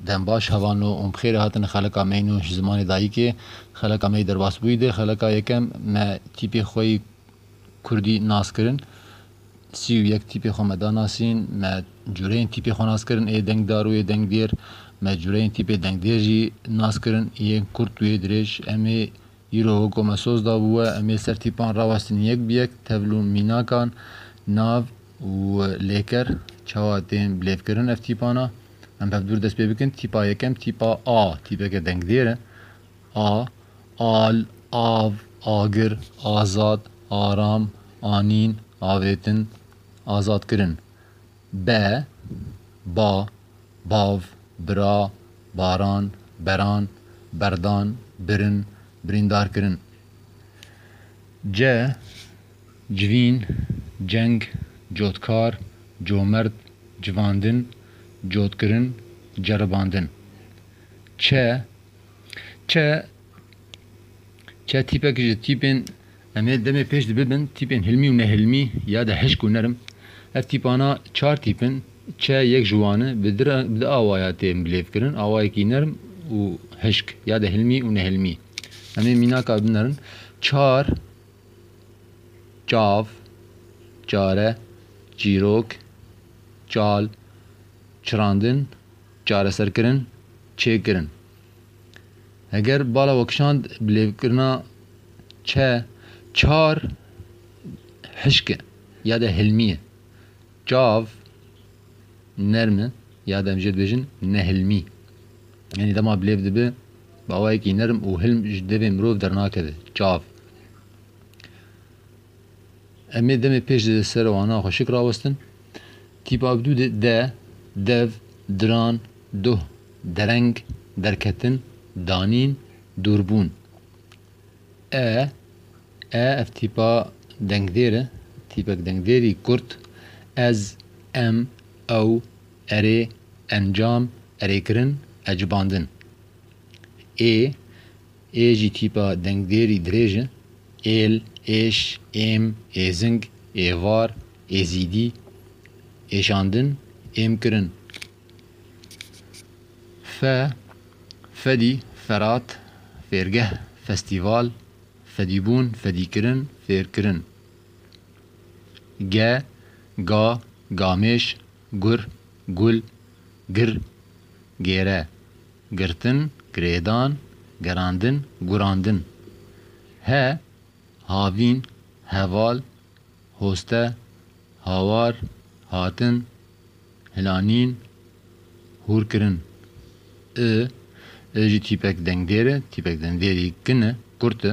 Dem baş hava nû û bixêrê hatin xeleka mey nû ji zimanê dayîkê. Xeleka mey derbasbûyî de xeleka yekem me tîpê xwe yî kurdî nas kirin. Sî û yek tîpê xwe me da nasîn. Me cureyên tîpê xwe nas kirin ê dengdar û ê dengdêr. Me cureyên tîpê dengdêr jî nas kirin yên kurt û yê dirêj. Em ê îro weko me soz dabû we em ê ser tîpan rawestin yek bi yek tevl û mînakan, nav, û lê ker çawa tên bilêvkirin ev tîpan a. Em hevdûr dest pê bikin, tîpa yekem tîpa a, tîpeke dengdêr e. A, al, av, agir, azad, aram, anîn, avêtin, azadkirin. Be, ba, bav, bira, baran, beran, berdan, birin, birîndarkirin. Ce. Civîn, ceng, cotkar, comerd, civandin, cotkirin, ceribandin. Çe, çe, çe tîpek ji tîpên em ê demê pêş de bibin, tîpên hilmî û nehilmî ya de hişk û nerm. Ev tîpana çar tîp in. Çe yek ji wan e. Bi di awaya tê bilêvkirin, awayekî nerm û hişk ya de hilmî û nehilmî. Em ê mînaka binerin. Çar. çav, çare, çîrok, çal, çirandin, çareserkirin, çêkirin. Heger bala we kişand bi lêvkirina çe, çar hişk e ya de hilmî ye. Çav nerm e ya de em jê dibêjin nehilmî. Yanî dema bilêv dibe bi awayekî nerm û hilm ji devê mirov dernakeve. Çav. Em ê demê pêş di ser wana xwe şik rawestin. Tîpa bi dû de, de, dev, diran, duh, dereng, derketin, danîn, dûrbûn. E, e ev tîpa dengdêr e, tîpek dengdêrî kurt, ez, em, ew, Erê, encam, erêkirin, ecibandin. Ê, ê jî tîpa dengdêrî dirêj e, êl, êş, êm, êzing, êvar, êzîdî, êşandin, êmkirin. Fe, fedî, ferat, fêrgeh, festîval, fedîbûn, fedîkirin, fêrkirin. Ge, ga, gamêş, Gur, gul, gir, gêre, girtin, girêdan, gerandin, gurandin. He, havîn, heval, hoste, hawar, hatin, hilanîn, hûrkirin. I, i jî tîpek dengdêr e, tîpek dengdêrî kin e, kurt e.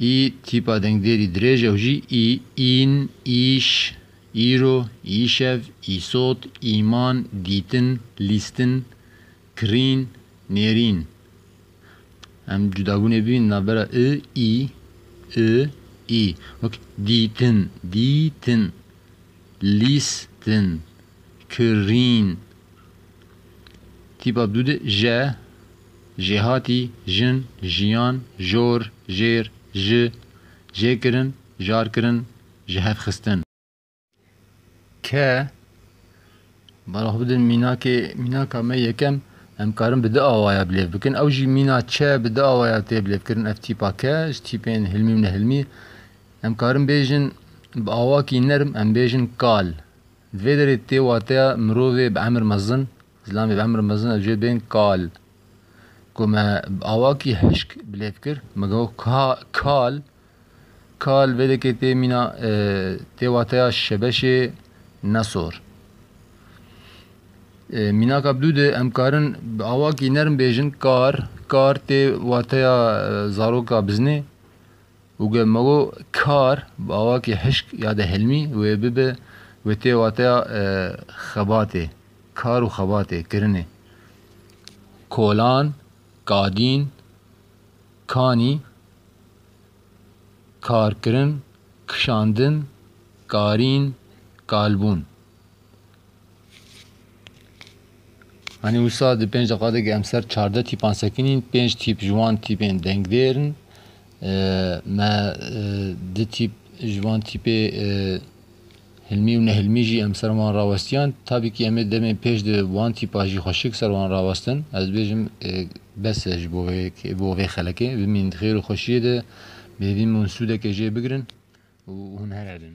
Î, tîpa dengdêrî dirêj ew jî î, în, îş, îro, îşev, îsot, îman, dîtin, lîstin, kirîn, nêrîn. Em cudabûnê bibînin navbera i, î, i, î. Wek, dîtin, dîtin, lîstin, kirîn. Tîpa dû de je, Jêhatî, jin, jiyan, jor, jêr, ji, jêkirin, jarkirin, jihevxistin. Ke, Bala xwe bidin mînakê, mînaka me yekem em karin bi di awaya bilêv bikin, ew jî mîna çe bi di awaya tê bilêvkirin ev tîpa ke, ji tîpên hilmî û nehilmî em karin bêjin bi awakî nerm em bêjin kal. Di vê derê tê wateya mirovê bi emir mezin Zilam ê bi emr mezin ew jê bên kal. Ku me bi awakî hişk bi lêv kir, me got ka, kal. Kal vêdekê tê mîna, tê wateya şebeşê ne sor. Mînaka bidû de em karin bi awakî nerm bêjin kar, kar tê wateya zaroka bizinê. Û ge me got kar bi awakî hişk ya de hilmî wê bibe, wê tê wateya xebatê. Kar û xebatê kirinê kolan, kadîn, kanî, karkirin, kişandin, karîn, kalbûn. Anî wisa di pênc deqa de em ser çardeh tîpan sekinîn, pênc tîp ji wan tîpên dengdêr in. Me di tîp ji van tîpê Hilmî û nehilmî jî em ser wan rawestiyan. Tabîkî em ê demên pêş di wan tîpa jî xweşik ser wan rawestin. Ez dibêjim bes e ji bo vê yekê, bo vê xelekê. Bimînin di xêr û xweşiyê de, bêvîn min sûdekê jê bigirin û hûn heredin.